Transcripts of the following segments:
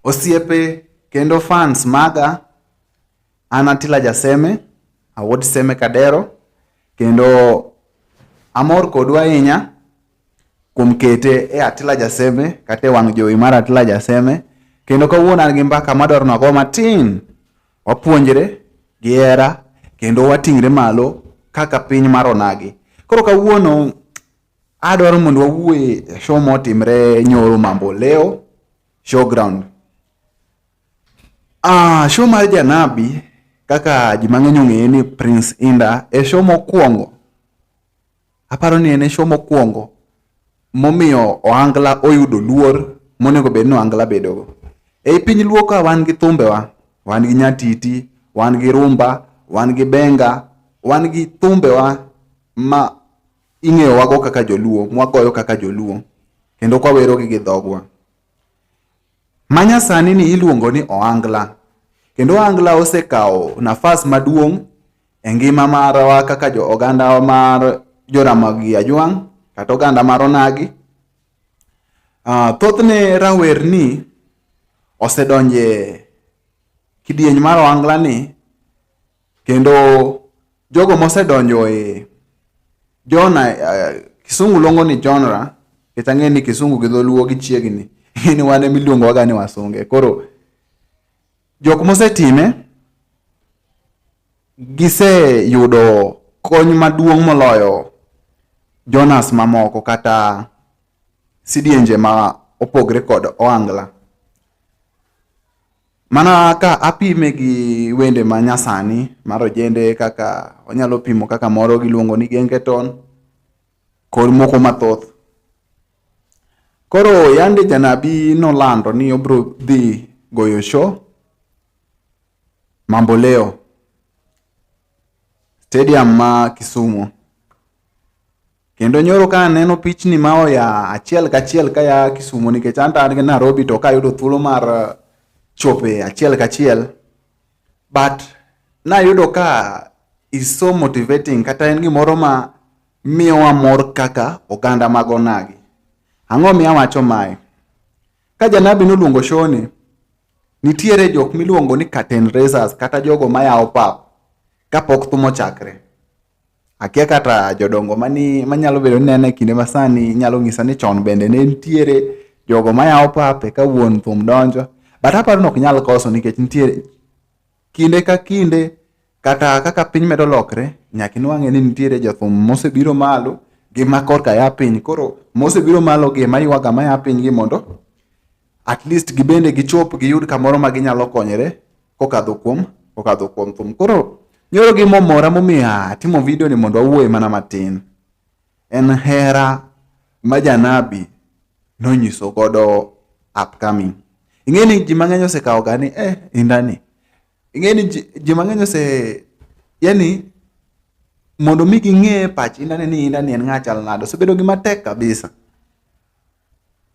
Osiepe kendo fans maga an Atila Jaseme, awuod Seme Kadero kendo amor kodu ahinya kuom kete e Atila Jaseme kata e wang' jowi mar Atila Jaseme kendo kawuono an gi mbaka madwaro nago matin wapuonjre gi hera kendo wating're malo kaka piny mar onagi. Koro kawuono Adwaro mondo wawuoye e show motimre nyoro mambo leo showground. Ah, show mar Janabi kaka ji mang'eny ong'eye ni Prince Inda e show mokwongo. Aparo ni en e show mokwongo momiyo Ohangla oyudo luor monego bed ni Ohangla bedogo. Ei piny luo ka wan gi thumbewa, wan gi nyatiti, wan gi rumba, wan gi benga, wan gi thumbewa ma ing'eyo wago kaka joluo mwagoyo kaka joluo kendo kwawerogi gi dhogwa manyasani ni iluongo ni oangla kendo oangla osekawo nafas maduong' e ngima marwa kaka jo oganda mar joramogi ajwang' kata oganda mar onagi uh, thothne rawerni osedonje kidieny mar oangla ni Kendo jogo mosedonjo e Jona, uh, Kisungu luongo ni genre, kech ang'e ni Kisungu gi Dholuo gichiegni, ni wan ema iluongowaga ni wasunge. Koro jok mosetime giseyudo kony maduong' moloyo Jonas mamoko kata sidienje ma opogre kod Oangla. Mana ka apime gi wende ma nyasani mar ojende kaka onyalo pimo kaka moro giluongo ni gengeton kod moko mathoth. Koro yande janabi nolando ni obro dhi goyo show Mamboleo stadium ma Kisumu. Kendo nyoro ka aneno pichni ma oya achiel kachiel ka ya Kisumu nikech an an gi Nairobi to kayudo thuolo mar eh, chope achiel kachiel but nayudo ka is so motivating kata en gimoro ma miyowa mor kaka oganda mag onagi. Ang'o miya wacho mae? Ka janabi noluongo shoni, nitiere jok miluongo ni curtain raisers kata jogo mayawo pap kapok thum ochakre. Akia kata jodongo mani manyalo bedo ni nene kinde masani nyalo ng'isa ni chon bende ne nitiere jogo mayawo pape ka wuon thum donjo. But aparo ni ok nyal koso nikech nitiere kinde ka kinde kata kaka piny medo lokre nyaka inwang'e ni nitiere jothum mosebiro malo gi ma korka ya piny. Koro mosebiro malo gi ma ywaga ma ya piny gi mondo at least gibende gichop giyud kamoro ma ginyalo konyore kokadho kuom kokadho kuom thum. Koro nyoro gimomora momiyo atimo video ni mondo awuoye mana matin. En hera ma janabi nonyiso godo upcoming. Ing'e ni ji mang'eny osekawo ga ni eh indani. Ing'e ni ji mang'eny ose yani mondo mi ging'e pach indani ni indani en ng'a chal nade osebedo gi matek kabisa.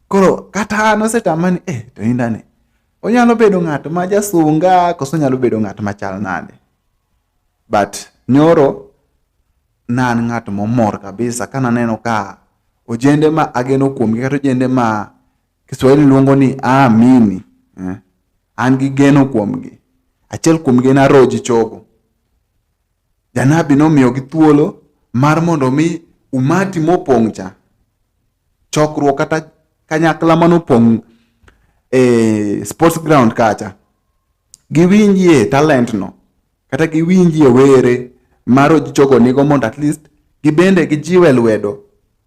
Koro kata an osetama ni eh, to indani onyalo bedo ng'at ma jasunga koso onyalo bedo ng'at ma chal nade. But nyoro nan ng'at momor kabisa ka naneno ka ojende ma ageno kuomgi kata ojende ma Kiswahili luongo ni aamini eh, an gi geno kuomgi. Achiel kuomgi en Aroji Chogo. Janabi nomiyogi thuolo mar mondo mi umati mopong' cha chokruok kata kanyakla manopong' e sports ground kacha giwinjie talent no kata giwinjie were maro jogo nigo mondo at least gibende gijiwe lwedo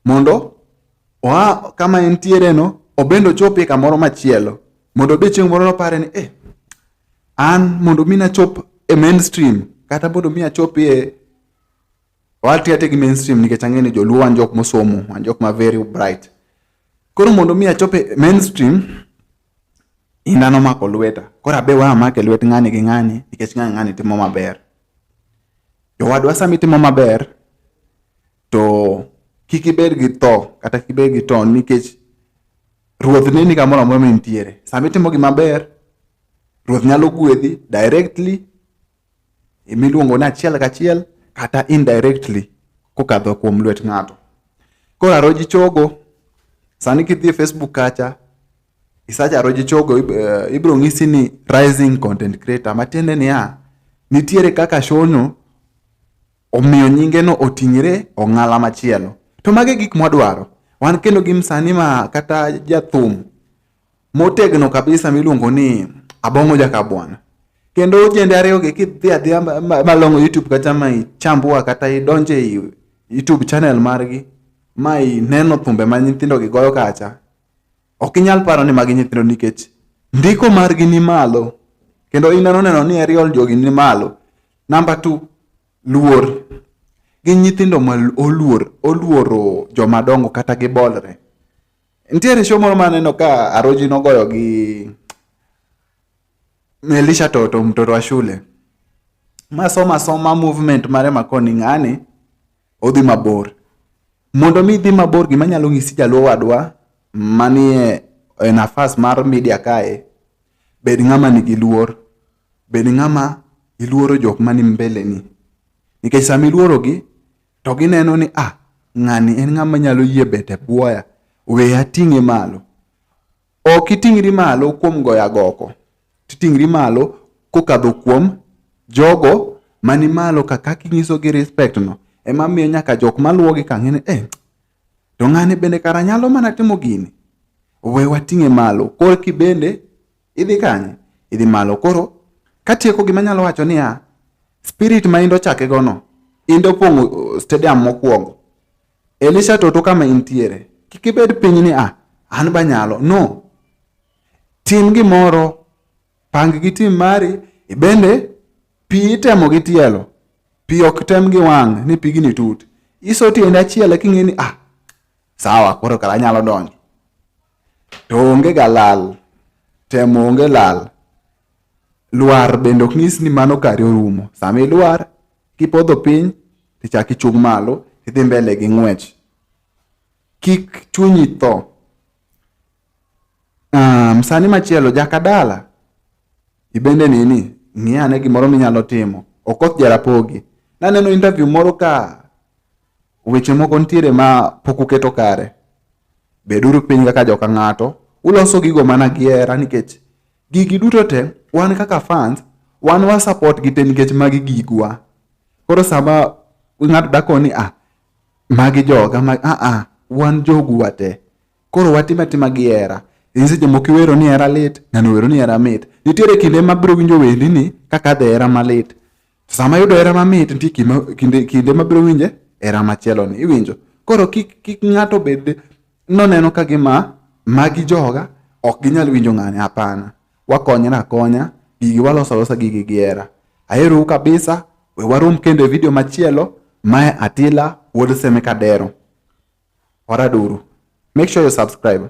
mondo oa kama entiere no obende ochopie kamoro machielo mondo obe chieng' moro nopare ni eh, an mondo mi nachop e mainstream kata mondo mi achopie Wati ati gi mainstream nikech ang'e ni joluo wan jok mosomo, wan jok ma very bright. Koro mondo mi achope mainstream ina nomako lweta. Koro abe wa amake lwet ng'ani gi ng'ani nikech ng'ani ng'ani timo maber. Jowadwa sami timo maber to kik ibed gi tho kata kik ibed gi ton nikech ruoth ne ni kamoro amora mintiere. Sami timo gima ber, ruoth nyalo gwedhi directly miluongo ni achiel kachiel kata indirectly kokadho kuom lwet ng'ato. Koro Aroji Chogo, sani kidhi e Facebook kacha, isacha Aroji Chogo, eh, ibiro ng'isi ni rising content creator, matiende niya, nitiere kaka shono omiyo nyingeno oting're ong'ala machielo. To mage gik mwadwaro. Wan kendo gi msanii ma kata jathum motegno kabisa miluongo ni Abong'o Jakabwana. Kendo ojende ariyogi kidhi adhiya ma- ma- malong'o YouTube kata ma ichambua kata idonje i YouTube channel margi ma ineno thumbe ma nyithindogi goyo kacha, ok inyal paro ni magi nyithindo nikech ndiko margi ni malo kendo ineno neno ni aerial jogi ni malo. Namba two, luor. Gin nyithindo ma oluor, oluoro jomadongo kata gibolre. Nitiere show moro maneno ka Aroji nogoyo gi Melisha Toto mtoto wa shule masoma soma movement mare makoni ng'ani odhi mabor. Mondo mi idhi mabor gima nyalo ng'isi jaluo wadwa manie e nafas mar media kae, bed ng'ama nigi luor, bed ng'ama iluoro jok mani mbeleni. Nikech sama iluorogi, to gineno ni ah ng'ani en ng'ama nyalo yie bet e bwoya we ating'e malo ok iting'ri malo kuom goyo agoko titing'ri malo kokadho kuom jogo mani malo ka kaka inyisogi respect no ema miyo nyaka jok maluwogi ka ng'e ni eh to ng'ani bende kara nyalo mana timo gini we wating'e malo korki bende Idhi kanye? Idhi malo. Koro katieko gima nyalo wacho niya, spirit ma indo chake gono, indo pong'o uh, stadium mokwongo. Elisha toto kama intiere. Kik ibed piny ni ah, an banyalo. No. Tim gimoro, pang gi tim mari, ibende pi itemo gi tielo. Pi ok tem gi wang' ni pigni tut. Iso tiende achiel eka ing'e ni ah, sawa koro kara anyalo donjo. to onge ga lal, temo onge lal. Lwar bende ok nyis ni mano kari orumo. Sama ilwar, kipodho piny, tichak ichung' malo, idhi mbele gi ng'wech. Kik chunyi tho. Um, sani machielo, jakadala, ibende nini, ng'i ane gimoro minyalo timo. Okoth Jarapogi. Naneno interview moro ka Weche moko nitiere ma pok uketo kare. Beduru piny kaka joka ng'ato, uloso gigo mana gi hera nikech gigi duto te wan kaka fans wan wa support gi te nikech magi gigwa. Koro sama ng'ato dakoni ni ah magi joga ma ah ah wan jogu wate. Koro watim atima gi hera. In seche moko iwero ni hera lit, ng'ano owero ni hera mit. Nitiere kinde mabiro winjo wendi ni kaka adhe hera malit. Sama yudo hera mamit nitie kinde, kinde mabiro winje hera machielo ni iwinjo. Koro kik, kik ng'ato bed noneno ka gima magi joga ok ginyal winjo ng'ani, hapana. Wakonyra akonya, gigi waloso alosa gigi gi hera. Aherou kabisa, we warom kendo e video machielo. Mae Atila wuod Seme Kadero. Oraduru. Make sure you subscribe.